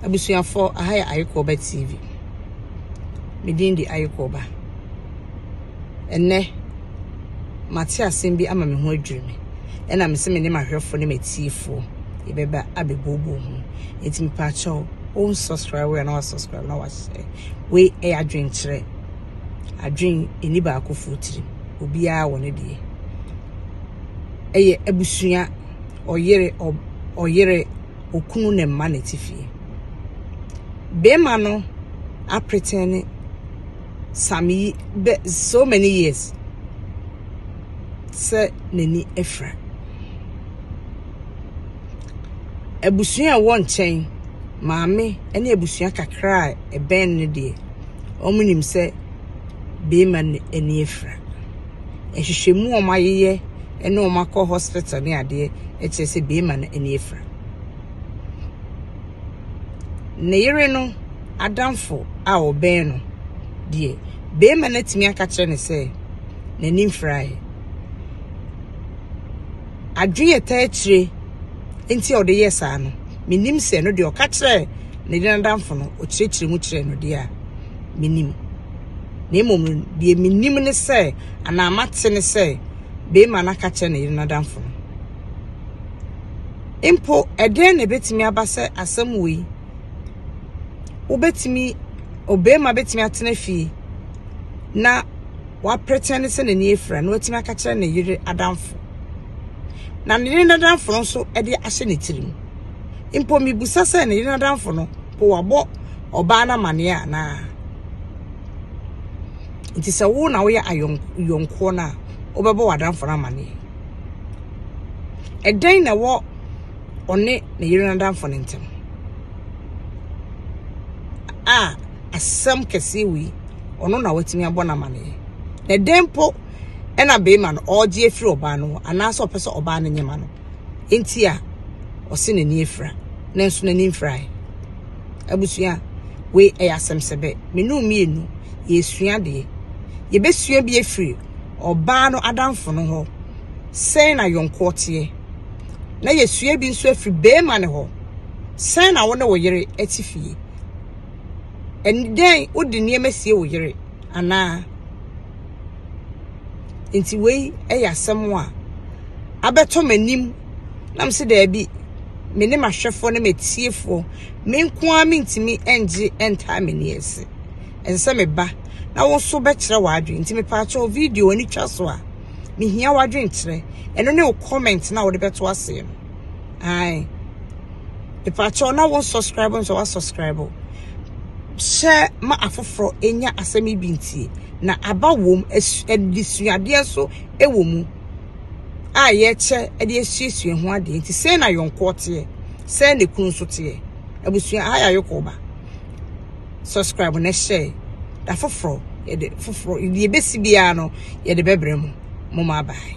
Abusuafoɔ, aha yɛ Ayekooba TV. Me din de Ayekooba. Ɛnnɛ, mate asɛm bi ama me ho adwiri me. Ɛna me se me ne mahwɛfoɔ ne matiefoɔ yɛbɛba abɛbooboo ho. Enti mepaakyɛw, wɔn subscribe wei anaa subscribe na wahyɛ. Wei ɛyɛ adwenkyerɛ. Adwen ɛni baakofoɔ tirim. Obiara wɔ ne deɛ. Ɛyɛ abusua ɔyere ɔyere okunu ne mma ne tifie bema no apretɛne same yi bɛ so many years sɛ n'ani afira abusua a ɛwɔ nkyɛn maame ne abusua kakra a ɛbɛn no deɛ wɔn nim sɛ bema ani afira nhwehwɛmu a wɔayeyɛ ne wɔn akɔ hospital ne adeɛ kyerɛ sɛ bɛrima no ani afira ne yere no adamfo a ɔbɛn no deɛ bɛrima no atumi aka kyerɛ ne sɛ n'ani mfiraeɛ adwene ɛta akyire nti a ɔde yɛ saa no menim sɛ no deɛ ɔka kyerɛ ne yere no adamfo no ɔkyerɛkyerɛ mu kyerɛ no deɛ a menim Na mmom no, deɛ menim ne sɛ, anaa mate ne sɛ, beema no aka akyerɛ ne yere no adamfo no. Mpo, ɛdɛn na ɛbɛtumi aba sɛ asɛm wei? Wobɛtumi, obeema bɛtumi atena fie na wapretɛn ne sɛ n'ani afira na watumi aka kyerɛ ne yere adamfo. Na ne yere n'adamfo no nso de ahyɛ ne tirim. Mpo, mebusa sɛ ne yere n'adamfo no, po wabɔ ɔbaa no amaneɛ anaa nti sɛ wo na woyɛ ayɔnkoɔ no a wobɛbɔ w'adamfo no amaneɛ ɛdɛn na ɛwɔ ɔne ne yere no adamfo no ntam a asɛm kɛseɛ wei ɔno na watumi abɔ no amaneɛ na ɛdɛn po ɛna bɛrima no ɔregye afiri ɔbaa no hɔ anaasɛ ɔpɛ sɛ ɔbaa no nyɛma no nti a ɔse n'ani afira nanso n'ani mfirae abusua wei ɛyɛ asɛm sɛ bɛ menu mmienu yɛsua deɛ yɛbɛsua bi afiri ɔbaa no adamfo no hɔ sɛn na yɔnkoɔ teɛ na yɛsua bi nso afiri bɛrima no hɔ sɛn na wo ne wo yere ati fie ɛnidɛn wode nneɛma sie wo yere anaa Nti wei yɛ asɛm a abɛtɔ m'anim na mese daabi, me ne m'ahwɛfoɔ ne m'atiefoɔ, me nko ara mentumi ngye ntaa m'ani ase. Ɛsɛ sɛ meba na wo nso bɛkyerɛ w'adwene. Nti mepaakyɛw video ani twa so a, mehia w'adwenkyerɛ. Ɛno ne wo comment na wode bɛto aseɛ no. Ae. Mepakyɛw na wo subscribe nso wa subscribe. Hyɛ ma afoforo enya asɛm yi bi ntie na aba wom adisuadeɛ so wɔ mu a yɛkyɛ de asuasua ho adeɛ nti sɛ na yɔnkoɔ teɛ sɛ na kunu nso teɛ abusua ha yɛ ayɔkɔ ba subscribe na hyɛ da foforo yɛde foforo yɛbɛsi biara no yɛde bɛbrɛ mu mo ma bye